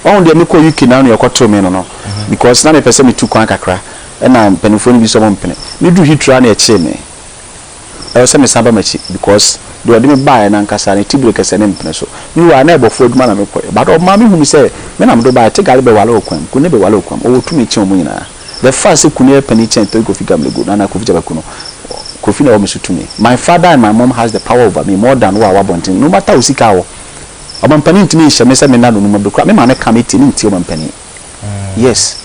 wahu deɛ mekɔ UK na no yɛkɔ to me no no because na mepɛ sɛ metu kwan kakra. ɛna mpaninfoɔ no bi sɛ ɔmo mpene. Me duru Heathrow a na yɛkyee me. Ɛwɔ sɛ me san ba m'akyi because deɛ ɔde me baeɛ no ankasa ne tibire kɛsɛ ne mpene so. Me wura na ɛbɔfoɔ adwuma na me kɔeɛ but ɔmaa me hunuu sɛ me na me de wo baeɛ te gale bɛwale wɔ kwan mu, kunne bɛwale wɔ kwan mu, ɔwɔ tumi kyɛn ɔmo nyinaa. The fact sɛ kunne yɛ panin kyɛn Toy Kofi Gamlego, Nana Kofi Kyabaku no, Kofi na ɛwɔ me so tumi. My father and my mom has the power over me more than wo a wɔ abɔnten no matter wo sika a wɔ. Ɔmampanin ntumi nhyɛ me sɛ me nna no numa bi koraa, me maame ka me tie, me ntie ɔmampanin. Yes.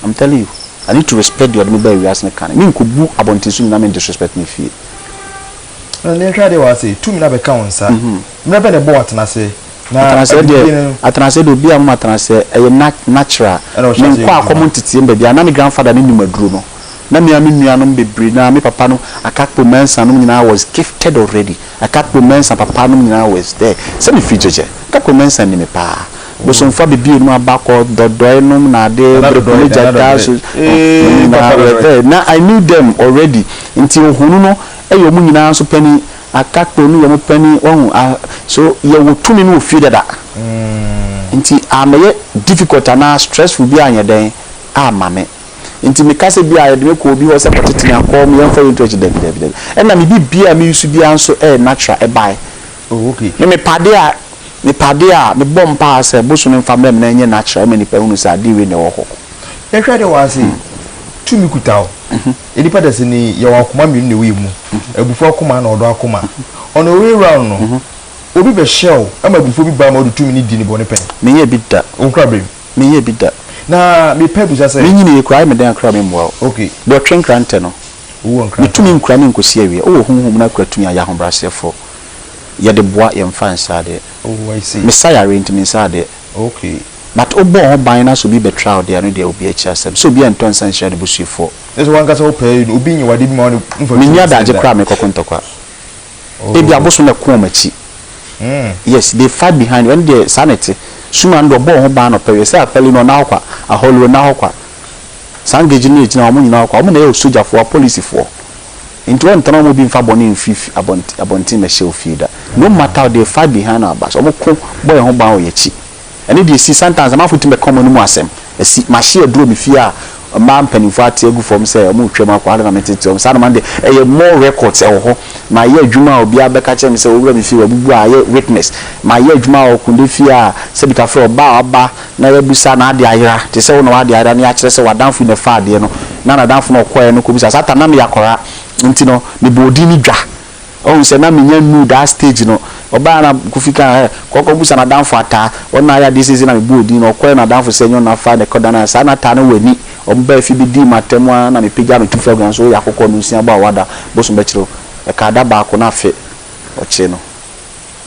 I'm telling you I need to respect deɛ ɔde me baa wiase no kan. Menkɔbu abɔnten so nyinaa men disrespect me fie. Na nea ɛtwa adeɛ wɔ ha sei, tumi no abɛka wo nsa. Mmerɛ bɛn na ɛbɔɔ wo atenaseɛ? Na Atenaseɛ deɛ, abibire no, atenaseɛ deɛ obiara mma me atenaseɛ. Ɛyɛ na natural. Ɛna ɔhyɛ aseɛ Menkɔ yɛ akɔm adwuma. nteteem baabi a. Na me grandfather no nim aduro no. Na me ara me nuanom bebree no ara, me papa no, Akakpo, Mensah nom nyinaa was gifted already. Na Kakpo Mensah papa nom nyinaa wes dɛ sɛ me firi Gyegye. Kakpo Mensah ni me paa. Bosomfo abibie nom aba kɔ Dɔdɔe nom na ade Breko ne Gyata so nom nyinaa were dɛ na I knew them already nti Ohonu no yɛ ɔmo nyinaa nso panin na Kakpo no yɛ ɔmo panin wahu ah so yɛ wɔ tumi no wɔ fie dada nti ammɛyɛ difficult anaa stressful biara anyɛ dɛn amma me. Nti me kasa bi a yɛde me kɔ obi hɔ sɛ kɔtete me akɔ me yɛnfa yɛntu akyi dabi dabi dabi. Ɛna me bi bia a me use bia nso ɛyɛ natural ɛbae. Oh okay. Me me pade a me pade a me bɔ mpaa sɛ bosome nfa mmerɛ me na ɛnyɛ natural ɛma nipa hunu sɛ ade wei na ɛwɔ hɔ. Yɛhwɛ ade wɔ ha sei, tumi kuta wo. Nnipa da sini yɛwɔ akoma mmienu na ɛwɔ yɛn mu, abufuo akoma ɛna ɔdɔ akoma. On a way round no, obi bɛhyɛ wo ɛma abufuo bi ba ma wode tumi no di ne bɔne pɛn. Menyɛɛ bi da. Wo nkrabɛm. Menyɛɛ bi da. Na mepɛ bisa sɛ. Minyin yi, kurae me dɛn kora memmua wo. Ok. Deɛ ɔtwe nkrantɛ no. Wowɔ nkrantɛ a. Ne tumi nkura no nkɔsi awie. Wowɔ honhom mu na kura tumi a, yɛ ahobrɛaseɛfoɔ. Yɛde boa, yɛmfa nsa adeɛ. Oh, I see. Mesa yareɛ nti mensa adeɛ. Ok. But wobɔɔ ho ban na sɛ obi bɛtra wo deɛ, ɛno deɛ obi akyi asɛm. Sɛ obi antɔ nsa anhyira n'abusuafoɔ. Kyerɛ sɛ wo ankasa wopɛ obi nyɛ wo adeɛ bi ma wo ne no mfa tumi nsa nda. Menni adagye koraa a mekɔko ntɔkwa. Ebi abosom na ɛko wɔn akyi. Yes, they fight behind. Ɛno deɛ, saa na ɛte. Suma no deɛ, ɔbɔ wɔn ho ban anɔpa awia. Sɛ Apali no, ɔnna hɔ kwa. Ahɔloɔ, ɔnna hɔ kwa. Saa Ngeji no na ɛgyina hɔ. Wɔn nyinaa wɔ kwa. Wɔn na ɛyɛ sogyafoɔ, apolisifoɔ. Enti wɔntena wɔn mu obi mfa bɔne mfiri fi, abɔnten, abɔnten mmɛhyɛ wo fie da. No matter what, they fight behind our backs. Wɔko bɔ yɛn ho ban wɔ yɛn akyi. Ɛno deɛ ɛsi, sometimes amanfoɔ tumi bɛka wɔn anom asɛm, ɛsi. Mahye aduro me fie a mmaa mpanimfoɔ ate agu fam sɛ wɔretwam akɔ, adɛn na metetee wɔn saa, na madeɛ ɛyɛ more records ɛwɔ hɔ. Mayɛ adwuma a obiara bɛka akyerɛ me sɛ owura me fie wabubu a ayɛ witness. Mayɛ adwuma wɔ Kunde fie a sɛ bi ka frɛ ɔbaa a waba na yɛabisa n'adeɛ ayera, te sɛ wo na w'adeɛ ayera na yɛakyerɛ sɛ w'adamfo yi na ɛfaa adeɛ no na n'adamfo no ɔkɔeɛ no kɔbisa saa time na meyɛ akwadaa nti no mebɔɔ din no dwa. Ɔhu sɛ na menya nnuu daa stage no. Ɔbaeɛ na Kofi kaa sɛ, kɔ kɔ busa n'adamfo Ataa. Ɔno na ayɛ adeɛ seisei na mebɔɔ din no. Ɔkɔɛ n'adamfo sɛ ɛnyɛ ɔno na afaa na ɛkɔdanee ayɛ saa na Ataa no wɔ ani. Ɔbaa fie bɛdii m'atɛm ara na mepagyaa no tu fam kaa sɛ woyɛ akokɔ no nsiabɔ a woada bosom bɛkyere wo. Ɛkaa da baako na afe ɔkyee no.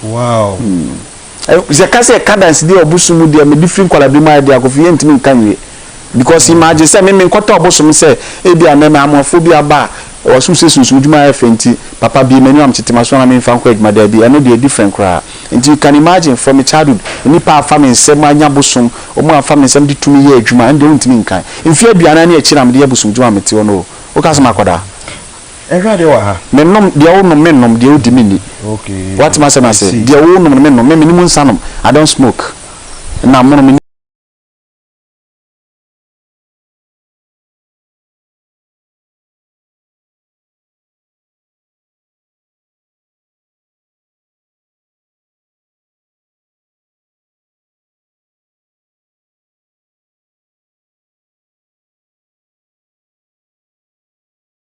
Wow! Hmm. Sɛ ka sɛ ka dansedie ɔbosom mu deɛ mede firi nkwaladie mu ayɛ deɛ akɔfo yɛntumi nka nwie. Because mm. imagine sɛ meme nkɔtɔ ɔbosom sɛ ebi anɛ mɛ amoafoɔ bi aba a ɔsom sɛ sunsum adwuma ayɛ fɛ nti papa bie m'ani wam tete maso na memfa nkɔ adwuma daabi ɛno deɛ different koraa. Nti you can imagine from a childhood nnipa afa me nsɛm anya bosom wɔn afa me nsɛm de tumi yɛ adwuma ɛno deɛ wontumi nkan. Mfeɛ aduanan ne akyi na mede yɛ bosom dwuma mete hɔ no o. Woka sɛ makɔdaa? Awurade wɔ ha. Mennom deɛ wonom, mennom deɛ wodi, menni. Woate m'asɛm ase? Deɛ wonom no, mennom. Me, menni mu nsa nom. I don't smoke. Na mono, menni.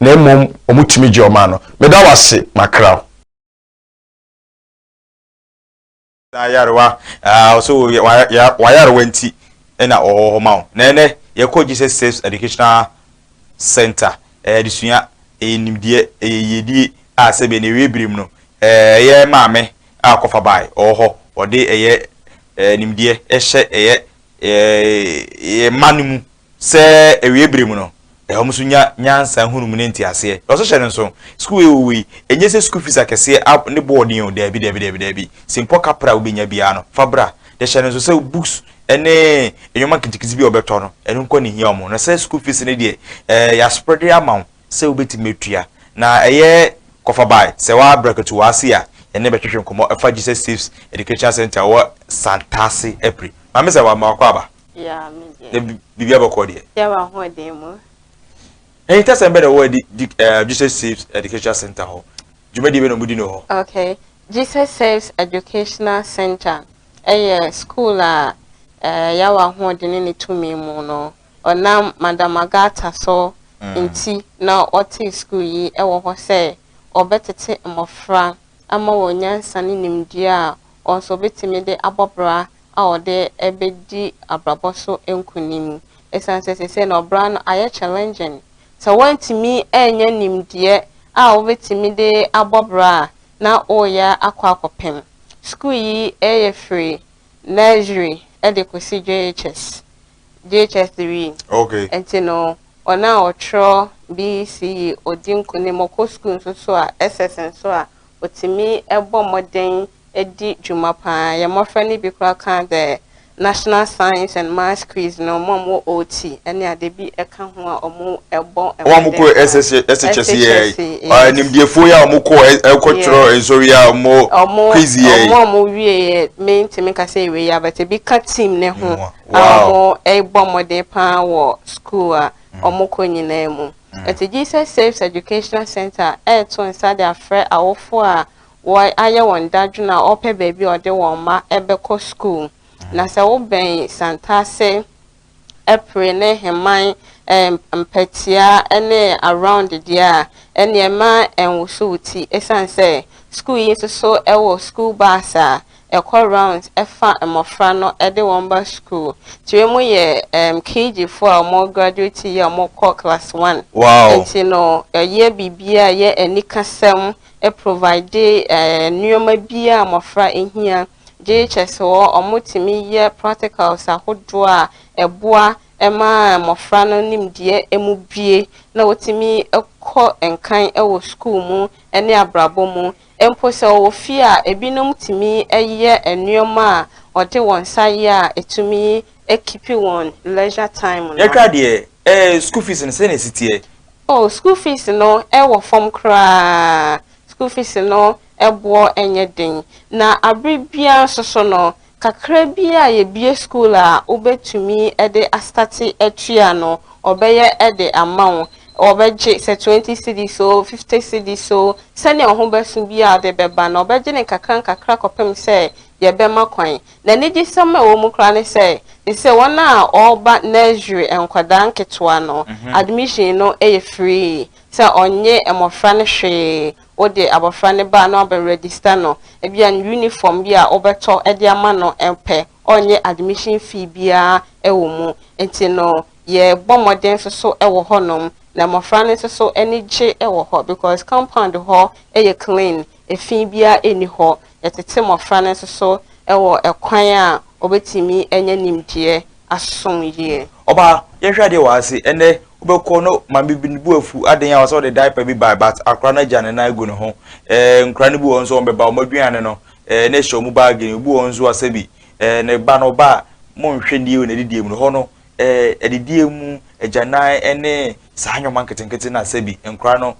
na mmom wɔn tumi gye wɔn ano. Meda wo ase, makra wo. na yarewa ɔsɛ wayarewa nti na ɔwɔ hɔ ma wo na ɛnɛ yɛkɔ Jesus Saves Educational Center ɛyɛ adesua ɛyɛ nimdeɛ ɛyɛ yiedie a sɛbɛn ɛwie bere mu no ɛyɛ maame a kɔfa bae ɔwɔ hɔ ɔde ɛyɛ nimdeɛ ɛhyɛ ɛyɛ ɛyɛ mma no mu Sɛ awiei bere mu no, ɛhɔ nso nya nyansa, nhunumu ne nteaseɛ. Na ɔsɛ hyɛ no nso. Sukuu wei wɔ wei. Ɛnyɛ sɛ sukuu fees akɛseɛ a ne bo wɔ den o, daabi, daabi, daabi, daabi. Sɛ mpo ɔka pra a wobɛnya biara no, fa bra. Na hyɛ no nso sɛ books ne nnoɔma nketenkete bi a ɔbɛtɔ no, ɛno nko ara na ɛhia wɔn. Na sɛ sukuu fees no deɛ, ɛɛ, yɛasprɛde ama wo sɛ wobɛtumi atua. Na ɛyɛ kɔfa bae. Sɛ woabrɛkatu w'ase a, yɛne wo bɛtwetwe nkɔmmɔ afa Jesus Saves Educational Centre a ɛwɔ Santase Apire. Maame Zama, ma w'akwaaba. Yeah, me deɛ. Na biribi abɛkɔ deɛ. Yɛ wɔ ahoɔden mu. Ɛyin tɛ sɛn bɛ na ɛwɔ ɛdi di ɛɛ eh, Jesus Saves Educational Center hɔ. Dwumadie bɛ na ɔmo di no hɔ. Okay, Jesus Saves Educational Center ɛyɛ school a ɛɛ eh, yɛ wɔ ahoɔden ne ne tumi mu no ɔnam Madam Agata so mm. nti na ɔte school yi ɛwɔ hɔ sɛ ɔbɛtete mmɔfra ama wɔn nyansa ne nimdeɛ a wɔn nso bɛtumi de abɔ bra a wɔde bɛdi abrabɔ so nkunim. Ɛsiane sɛ seesei no ɔbra no ayɛ challenging, sɛ woantumi annya nimdeɛ a wobɛtumi de abɔ bra a, na woreyɛ akɔ akɔpem. Sukuu yi yɛ firi nursery de kɔsi JHS. JHS wie okay. nti no wɔn a wɔtwerɛ BECE ɔdi nkunim ɔkɔ sukuu nso so a SS nso a ɔtumi bɔ mmɔden di dwuma paa yɛn mmɔfra no bi koraa ka the national science and maths quiz no wɔn a wɔwɔ OT ne ade bi ka ho a wɔbɔ mmɔden wɔn a wɔkɔ SHS yɛ nimdeɛfoɔ yɛ a wɔkɔ kɔtwerɛ nsɔre a wɔn quiz yɛ wɔn a wɔwie yɛ mentumi kasa ɛwei yɛ abɛte bi ka team ne ho. a wɔbɔ mmɔden paa wɔ sukuu a mm. wɔkɔ nyinaa mu. Mm. Ɛti Jesus Saves Educational Center ɛreto nsa de afrɛ awofo a wɔayɛ wɔn dadwene a wɔpɛ baabi a wɔde wɔn mma ɛbɛkɔ sukuu. Mm. Na sɛ wobɛn Santase, Ɛpere ne Heman mpatia ne around deɛ a, ɛnneɛ ma ɛnwoso wo ti, ɛsiane sɛ sukuu yi nso so ɛwɔ sukuu bus a ɛkɔ rounds ɛfa mmɔfra no ɛde wɔn ba school tire mu yɛ um, KG fo a wɔn graduate yɛ wɔn kɔ class one wow. nti no ɛyɛ biribiara a yɛ anikasɛm ɛprovide ɛɛ nneɛma biara a mmɔfra ɛhia gye kyɛ sɛ wɔn tumi yɛ practicals ahodoɔ a ɛboa ɛma mmɔfra no nimdeɛ ɛmu bie na wɔtumi ɛkɔ nkan ɛwɔ school mu ɛne abrabɔ mu Mpo sɛ ɔwɔ fie a, ebinom tumi yɛ nneɛma a wɔde wɔn nsa yɛ a ɛtumi kipi wɔn leisure time no. Yɛka deɛ, eh, school fees no, sɛn na ɛsi teɛ? Oh, school fees no wɔ fam koraa. School fees no boɔ nyɛ den. Na bere biara nso so no, Kakra bi a yɛbue school a wobɛtumi de astate atua no, wɔbɛyɛ de ama wo. Wɔbɛgye sɛ twenty cedis oo, fifty cedis oo, sɛdeɛ wo ho bɛso biara wode bɛba na wɔbɛgye no nkakra nkakra kɔpem sɛ yɛbɛma kwan. Na anigyesɛm a ɛwɔ mu koraa ne sɛ, te sɛ wɔn a wɔreba nursery, nkwadaa nketewa no, admission no yɛ free. Sɛ ɔnnye mmɔfra no hwee, wode abɔfra no ba na wabɛ register no, ebia ne uniform bi a wobɛtɔ de ama no pɛ, ɔrenyɛ admission fee biara wɔ mu. Nti no, yɛbɔ mmɔden nso so wɔ hɔnom, na mmɔfra no nso so ani gye wɔ hɔ because compound hɔ yɛ clean, efi biara nni hɔ. Yɛtete mmɔfra no nso so wɔ kwan a wɔbɛtumi anya nimdeɛ asom yie. Ɔba, yɛnhwɛ adeɛ wɔ ha se, ɛnnɛ wobɛkɔ no maame bi ne bo afu aden a ɔsɛ ɔde diaper bi bae but akora no agya ne nan agu ne ho eh, nkora no bi wɔ hɔ nso wɔn bɛba wɔn aduane no eh, na ɛhyɛ wɔn baage no, obi wɔ hɔ nso a sɛbi eh, ne ba no ɔba a monhwɛ nie wɔ n'adidie mu no hɔ no eh, adidie mu agyanan ne saa nneɛma nketenkete no a sɛbi nkora no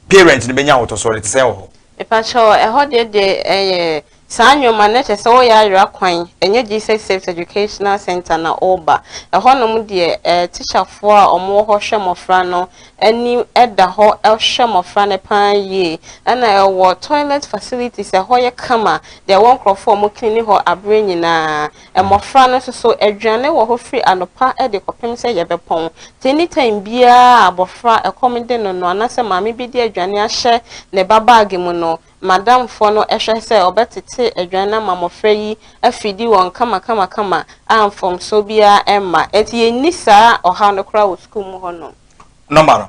parent no bɛnya ahotɔsoɔ no te sɛn wɔ hɔ? Mepakyɛw, ɛhɔ deɛ deɛ ɛyɛ saa nneɛma no kyerɛ sɛ woyɛ ayera kwan, ɛnyɛ Jesus Saves Educational Centre na woreba. Ɛhɔnom deɛ eh, tikyafoɔ a wɔwɔ hɔ hwɛ mmɔfra no ani da hɔ hwɛ mmɔfra no pa ara yie. Ɛna ɛwɔ toilet facilities, ɛhɔ yɛ kama, deɛ ɛwɔ nkurɔfoɔ a wɔcleani hɔ aberɛ nyinaa. Mmɔfra no nso so, aduane wɔ hɔ firi anɔpa de kɔpem sɛ yɛbɛpɔn. Nti any time biara a abɔfra ɛkɔm de no no anaasɛ maame bi de aduane ahyɛ ne ba bag mu no, Madam foɔ no hwɛ sɛ ɔbɛtete aduane no ama mmɔfra yi afidi wɔn kamakamakama a mfomsoɔ biara mma. Nti yɛnni saa ɔhaw no koraa wɔ sukuu mu hɔ nom. Nɔma no,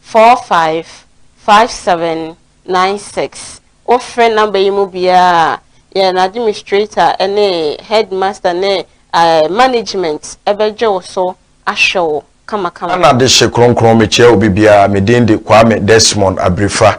four five five seven nine six. Wofrɛ number yi mu biara a, yɛn administrator ne headmaster ne management bɛgye wo so ahwɛ wo kamakama. Ana dehye kronkron mekyea obi biara, me din de Kwame Desmond Abirifah,